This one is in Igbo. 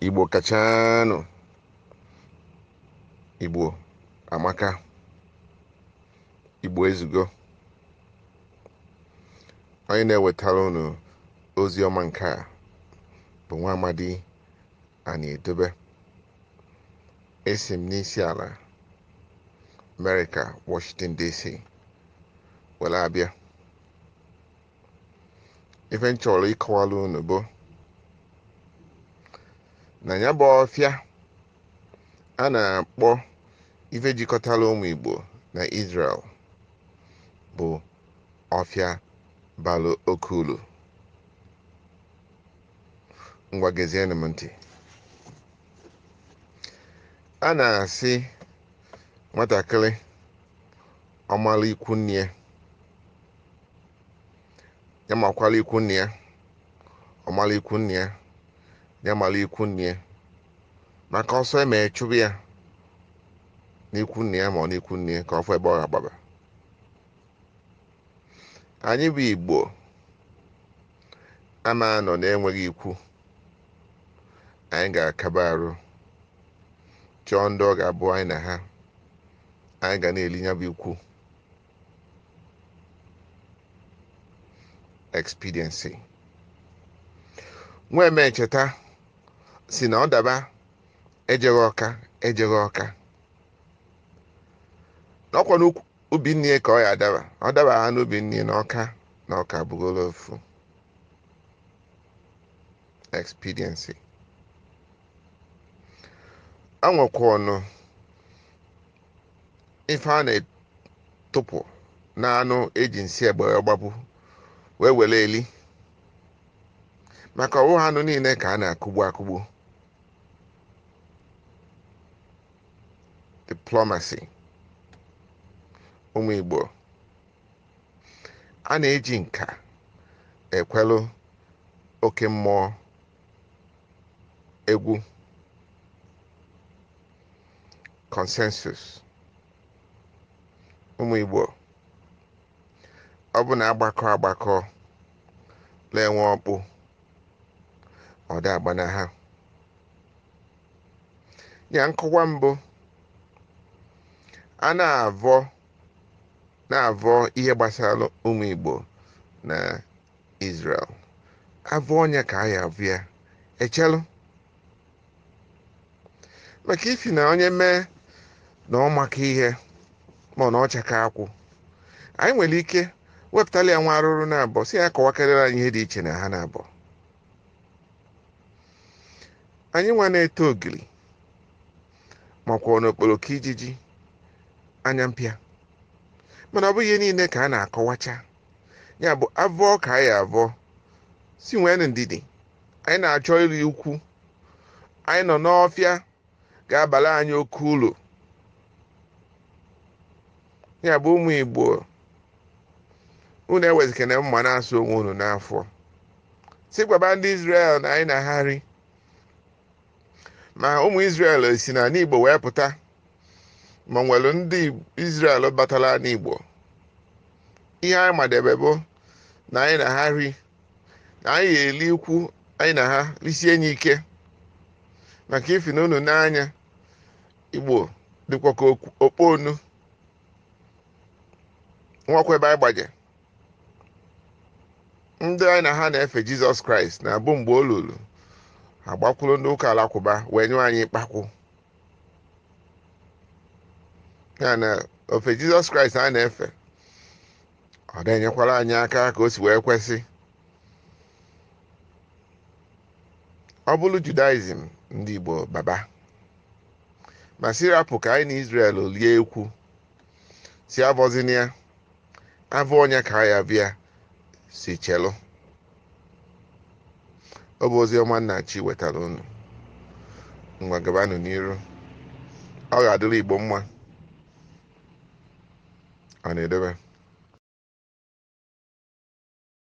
igbo kachanụ igbo amaka igbo ezugo onye na-ewetara unu ozi ọma nke a bụ nwa amadi anyị edobe esi m n'isi ala amerịka washington dc were abịa ife m chọrọ ịkọwara unu bụ na ya bụ ọfịa a na-akpọ ife jikọtara ụmụ Igbo na Israel bụ ọfịa bara oke uru ngwa gezienụ m ntị a na-asị nwatakịrị ọ mara ikwu nne ya ya makwara ikwu nna ya ọ mara ikwu nne ya ya mara ikwu nna ya maka ọsọ eme chụba ya n'ikwu nna ya ma ọ n'ikwu nne ya ka ọ fụ ebe ọ ga-agbaba anyị bụ igbo ama anọ na-enweghị ikwu anyị ga-akaba arụ chọọ ndị ọ ga-abụ anyị na ha anyị ga na-eli ya bụ ikwu expediency nwa emecheta sị na ọ daba ejeghị ọka ejeghị ọka na ọ kwa n'ubi nne ya ka ọ ya adaba ọ dabahọ n'ubi nne ya na ọka na ọka bụgoro ofu expediency enwekwanụ ife a na-atụpụ n'anụ eji nsị egbe wee gbagbu wee were eli maka ọ wụhọ anụ niile ka a na-akụgbu akụgbu diplomacy ụmụ Igbo a na-eji nka ekwelụ oke mmụọ egwu consensus ụmụ Igbo ọ bụ na agbakọ agbakọ na-enwe ọkpụ ọ da agbana ha ya nkọwa mbụ a na-avọ na-avọ ihe gbasara ụmụ Igbo na Israel avụ onye ka a ya avụ ya echelụ maka ifi na onye mee na ọ maka ihe ma na ọcha ka akwụ anyị nwere ike wepụtala ya nwa arụrụ naabọ si ya kọwakarịrị anyị ihe dị iche na ha naabọ anyị nwa na-ete ogiri makwanụ okporoko ijiji anya mpịa mana ọ bụghị ihe niile ka a na-akọwacha ya bụ avọ ka a ya avọ si nwee ndidi anyị na-achọ iri ikwu anyị nọ n'ọfịa ga-abara anyị oke uru ya bụ ụmụ igbo unu ewezikana mma na-asụ onwe unu n'afọ si gwaba ndị Izrel na anyị na ha ri ma ụmụ Izrel si n'ala Igbo wee pụta ma nwere ndị Izrel batara ala Igbo ihe anyị madebe bụ na anyị na ha ri na anyị ya-eli ikwu anyị na ha risie enyi ike maka ifi na unu n'anya Igbo dịkwa ka okpu onu nwakwa ebe anyị gbaje ndị anyị na ha na-efe jizọs kraịst na-abụ mgbe o luru agbakwuru ndị ụka alakụba wee nyụọ anyị ịkpakwụ ya na ofe jizọs kraịst a na-efe ọ na-enyekwara anyị aka ka o si wee kwesị ọ bụrụ judaizim ndị igbo baba ma si rapụ ka anyị na israel lie ikwu si avọzina ya avụ onye ka a ya avụ ya si chelụ ọ bụ ozi ọma nna chi wetara unu ngwa gabanụ n'iru ọ ga-adịrị igbo mma o ndeeme